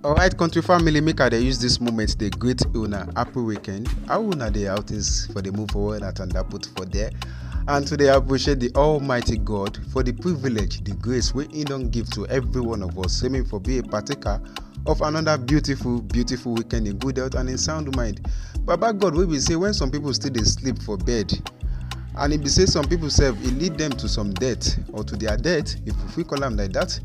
alright country family make i dey use dis moment dey greet una happy weekend how una dey how things for dey move forward at and put for there and to dey appreciate the almighty god for the privilege the grace wey he don give to every one of us say make for be a partaker of another beautiful beautiful weekend in good health and in sound mind baba god wey be say when some people still dey sleep for bed and e be say some people sef e lead them to some death or to their death if we fit call am like that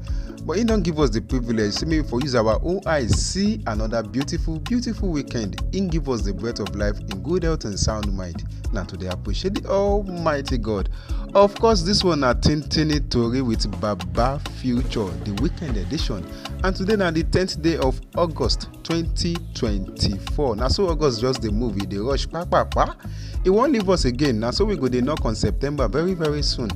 but he don't give us the privilege so maybe for use our own eyes see another beautiful beautiful weekend He give us the breath of life in good health and sound mind Now today appreciate the almighty god of course this one na tintini tori with baba future the weekend edition and today now the 10th day of august 2024 na so august just dey move e dey rush kpakpakpa e wan leave us again na so we go dey knock on september very very soon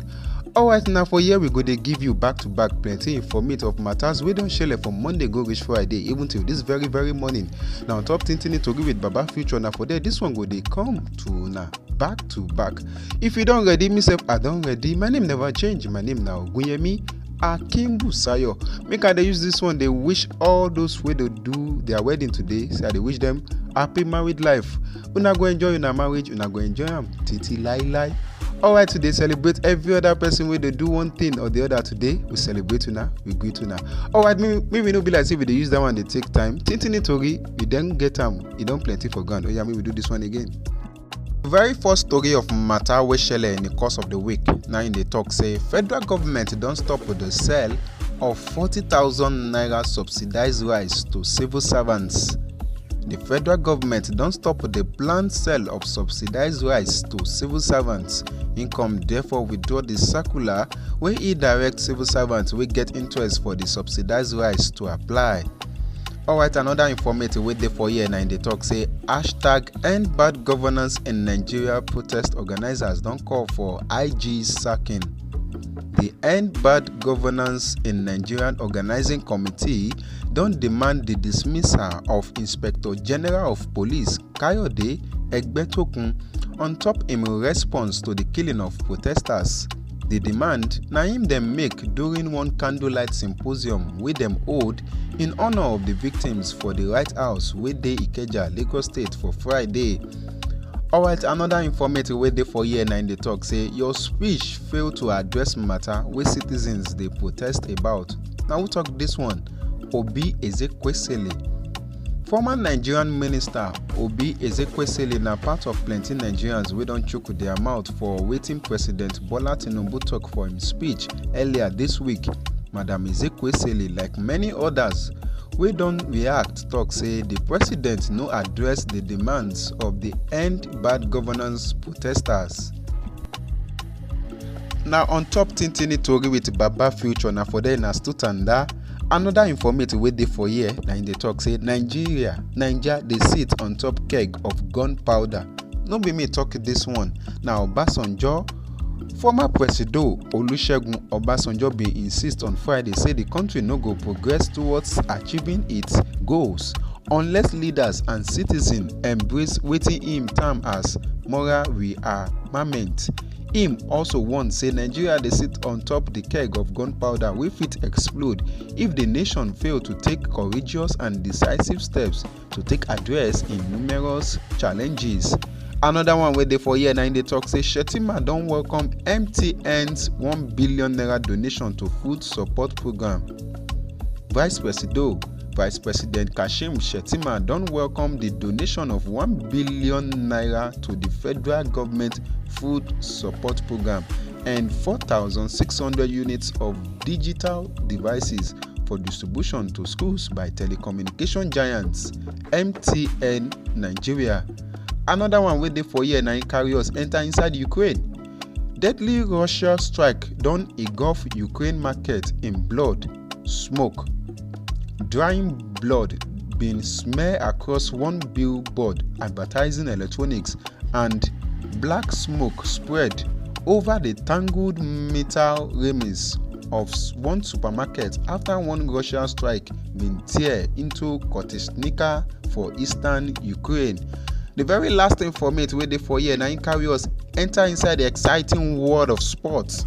alright na for here we go dey give you back to back plenty informate of matters wey don shele from monday go reach friday even till this very very morning na on top tintini tori with baba future na for there this one go dey come to una back to back if you don ready me sef i don ready my name never change my name na ogunyemi akim busayo make i dey use this one dey wish all those wey dey do their wedding today say i dey wish them happy married life una go enjoy una marriage una go enjoy am titi lailai alright today celebrate every other person wey dey do one thing or the other today we celebrate una we greet una alright make we no be like say we dey use that one dey take time tintini tori we don get am e don plenty for ground oya make we do this one again. very first story of matter wey shele in the course of the week na im dey talk say federal government don stop the sale of 40,000 naira subsidized rice to civil servants. The federal government don stop the planned sale of subsidized rice to civil servants. Income therefore withdraw the circular wey e direct civil servants wey get interest for the subsidized rice to apply. Alright, another informative wey dey for here na im dey talk say hashtag End bad governance in Nigeria protest organizers don call for IG's sacking. The End Bad Governance in Nigerian Organizing Committee don demand the dismissal of Inspector General of Police Kayode Egbetokun on top im response to the killing of protesters. Di demand na im dem make during one candlelight symposium wey dem hold in honour of di victims for di Wright House wey dey Ikeja, Lagos State for Friday. Alright, another informate wey dey for here na im dey talk say your speech fail to address matter wey citizens dey protest about. Na who talk this one? Obi Ezekwesili. Former Nigerian minister Obi Ezekwesili na part of plenty Nigerians wey don chook their mouth for wetin President Bola Tinubu talk for im speech earlier this week. Madam Ezekwesili, like many others, wey don react talk say the president no address the demands of the End Bad Governance protesters. Na on top Tintini Tori with Baba Future na for there na still tanda. Another informative wey dey for here na im dey talk say Nigeria, Naija dey sit on top keg of gunpowder. No be me talk this one, na Obasanjo. Former Presido Olusegun Obasanjo bin insist on Friday say di country no go progress towards achieving its goals unless leaders and citizens embrace wetin im term as moral rearmament. im also warn say nigeria dey sit on top di keg of gunpowder wey fit explode if di nation fail to take courageous and decisive steps to take address im numerous challenges. Another one wey dey for here na im dey talk say Shettima don welcome MTN's one billion naira donation to food support programme. Vice Presido Vice President Kashim Shettima don welcome di donation of one billion naira to di federal government food support programme and 4,600 units of digital devices for distribution to schools by telecommunication giants mtn nigeria anoda one wey dey for here na im carry us enta inside ukraine deadly russia strike don engulf ukraine market in blood. smoke. Drying blood bin smear across one billboard advertising electronics and black smoke spread over the tangled metal railings of s- one supermarket after one Russian strike bin tear into Kotisnika for eastern Ukraine. The very last informate wey dey for here na im carry us enter inside the exciting world of sports.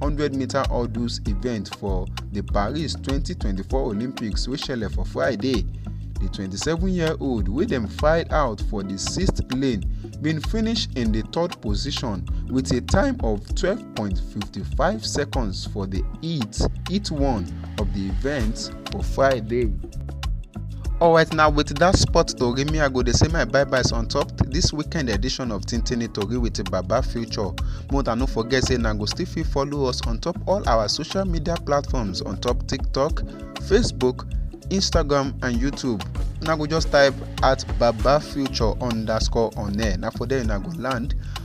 100 meter hurdles event for the paris 2024 olympics wey shele for friday di 27 year old wey dem file out for di sixth lane bin finish in di third position wit a time of 12.55 seconds for di heat heat one of di event for friday. Alright now with that sport tori me I go dey say my bye byes on top this weekend edition of Tintini Tori with Baba Future. More than no forget say na go still fit follow us on top all our social media platforms on top TikTok, Facebook, Instagram and YouTube. Una go just type at Baba Future underscore on air. Na for there una go land.